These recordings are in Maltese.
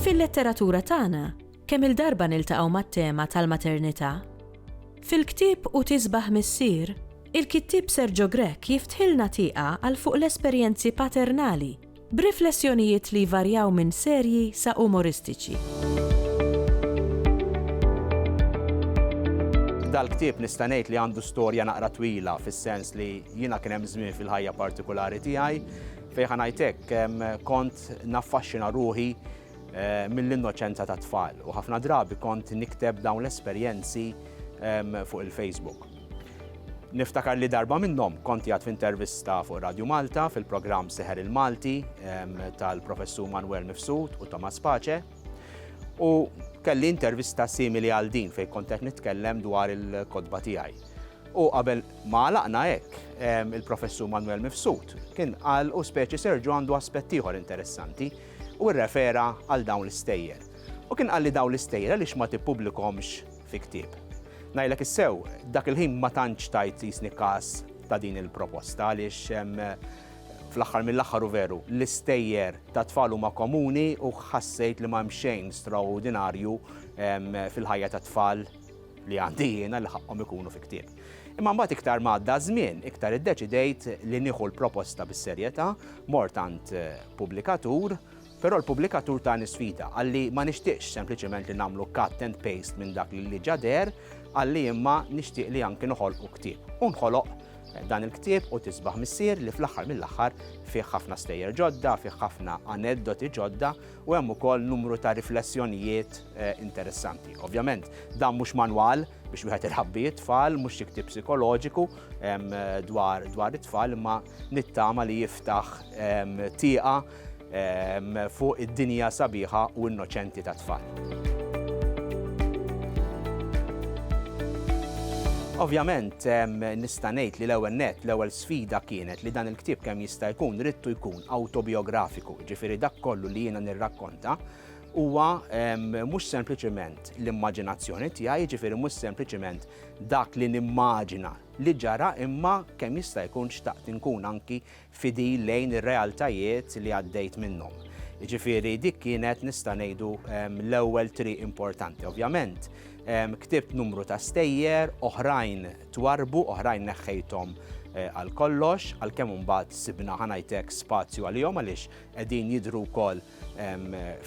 Fil-letteratura tagħna, kemm il-darba niltaqgħu mat-tema tal-maternità? Fil-ktieb U tisbaħ missier, il-kittieb Sergio Grech jiftħilna tieqa għal fuq l-esperjenzi paternali b'riflessjonijiet li jvarjaw minn serji sa umoristiċi. Dal-ktieb nista' ngħid li għandu storja naqra twila fis-sens li jiena kien hemm żmien fil-ħajja partikolari tiegħi fejn ħanajtek kont naffaxxina ruħi mill-innoċenza tat-tfal u ħafna drabi kont nikteb dawn l-esperjenzi fuq il-Facebook. Niftakar li darba minnhom kont jgħat f'intervista fuq Radio Malta fil-programm Seħer il-Malti tal-Professur Manuel Mifsud u Thomas Pace u kelli intervista simili għal din fejn kont qed nitkellem dwar il-kodba tiegħi. U qabel ma għalaqna hekk, il-Professur Manuel Mifsud kien qal u speċi Serġu għandu aspett ieħor interessanti u rrefera għal dawn l-istejjer. U kien qalli dawn l-istejjer għaliex ma tippublikhomx fi ktieb. Ngħidlek is-sew, dak il-ħin ma tantx tajt jisni każ ta' din il-proposta għaliex fl-aħħar mill-aħħar u veru l-istejjer ta' tfal huma komuni u ħassejt li ma hemm xejn straordinarju fil-ħajja tat-tfal li għandi jiena li ħaqqhom ikunu fi ktieb. Imma mbagħad iktar ma għadda żmien, iktar iddeċidejt li nieħu l-proposta bis-serjetà, mort għand eh, pubblikatur, però l-pubblikatur tani sfida għalli ma nixtieqx sempliċement li nagħmlu cut and paste minn dak li ġader, għalli imma nixtieq li anki noħolqu ktieb. U nħoloq eh, dan il-ktieb u tisbaħ missier li fl-aħħar mill-aħħar fih ħafna stejjer ġodda, fih ħafna aneddoti ġodda u hemm ukoll numru ta' riflessjonijiet interessanti. Ovvjament, dan mhux manwal biex wieħed irħabbi it-tfal, mhux xi ktieb psikoloġiku dwar dwar it-tfal, imma nittama li jiftaħ tieqa fuq id-dinja sabiħa u innoċenti tat-tfal. Ovvjament, nista' ngħid li l-ewwel nett, l-ewwel L-isfida kienet li dan il-ktieb kemm jista' jkun ridtu jkun awtobijografiku, jiġifieri dak kollu li jiena nirrakkonta huwa mhux sempliċiment l-immaġinazzjoni tiegħi, jiġifieri mhux sempliċiment dak li nimmaġina li ġara imma kemm jista' jkun xtaqt inkun anki fidil lejn ir-realtajiet li għaddejt minnhom. Jiġifieri dik kienet nista' ngħidu l-ewwel triq importanti. Ovvjament ktibt numru ta' stejjer oħrajn twarrbu, oħrajn neħħejthom għal kollox, għalkemm imbagħad sibna ħa ngħid hekk spazju għalihom għaliex qegħdin jidhru wkoll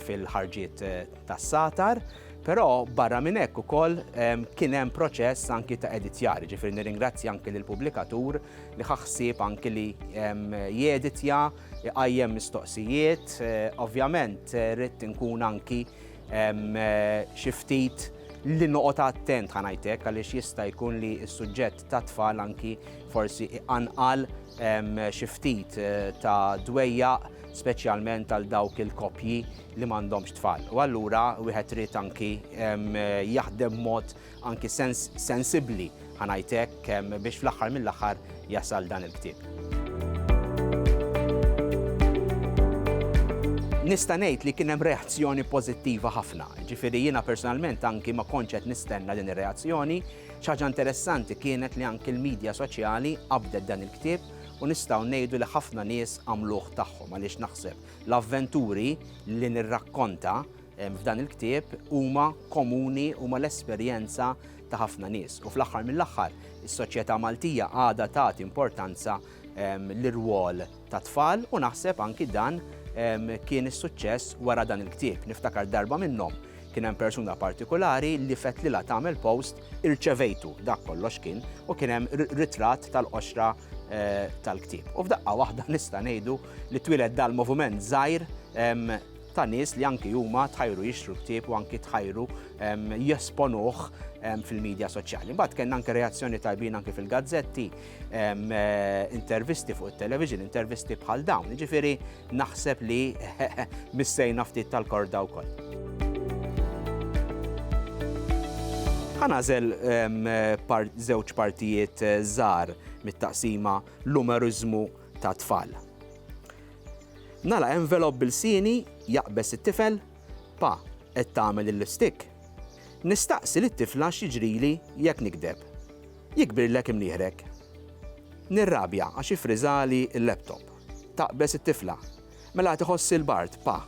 fil-ħarġiet tas-satar. Però barra minn hekk ukoll kien hemm proċess anki ta' editjar, ġifieri nirringrazzja anki lill-pubblikatur li ħa ħsieb anki li jeditja, iqajjem mistoqsijiet, ovvjament rrid inkun anki xi ftit li noqgħod attent ħa ngħid hekk għaliex jista' jkun li s-suġġett tat-tfal anki forsi iqanqal xi ftit eh, ta' dwejja speċjalment għal dawk il-koppji li m'għandhomx tfal. U allura wieħed trid anki jaħdem mod anki sens sensibbli, ħa ngħid hekk, biex fl-aħħar mill-aħħar jasal dan il-ktieb. Nista' ngħid li kien hemm reazzjoni pożittiva ħafna. Ġifieri jiena personalment anki ma kontx qed nistenna din ir-reazzjoni. X'ħaġa interessanti kienet li anki l-medja soċjali qabdet dan il-ktieb u nistgħu ngħidu li ħafna nies għamluh tagħhom għaliex naħseb l-avventuri li nirrakkonta f'dan il-ktieb huma komuni huma l-esperjenza ta' ħafna nies. U fl-aħħar mill-aħħar, is-soċjetà Maltija għadha tagħti importanza ehm, l-irwol ta' tfal u naħseb anki dan ehm, kien is-suċċess wara dan il-ktieb. Niftakar darba minnhom kien hemm persuna partikolari li fet lilha tagħmel post irċevejtu dak kollox kien u kien hemm ritratt tal-qoxra eh, tal-ktieb. U f'daqqa waħda nista' ngħidu li twieled dal-moviment żgħir ehm, ta' nies li anki huma tħajru jixtru ktieb u anki tħajru ehm, jesponuh ehm, fil-medja soċjali. Mbagħad kellna anke reazzjoni tajbin anki fil-gazzetti, ehm, eh, intervisti fuq it-television, intervisti bħal dawn. Ġifieri naħseb li missejna ftit tal-korda wkoll. Ħanażel eh, żewġ partijiet eh, żgħar mit-taqsima l-umerizmu ta' tfal. Nagħlaq envelop b'ilsieni, jaqbeż it-tifel, Pa, qed tagħmel il-lipstick? Nistaqsi lit-tifla x'jiġrili jekk nigdeb. Jikbirlek imnieħrek. Nirrabja għax iffriżali l-laptop. Taqbeż it-tifla, Mela qed iħossli l-bard, Pa.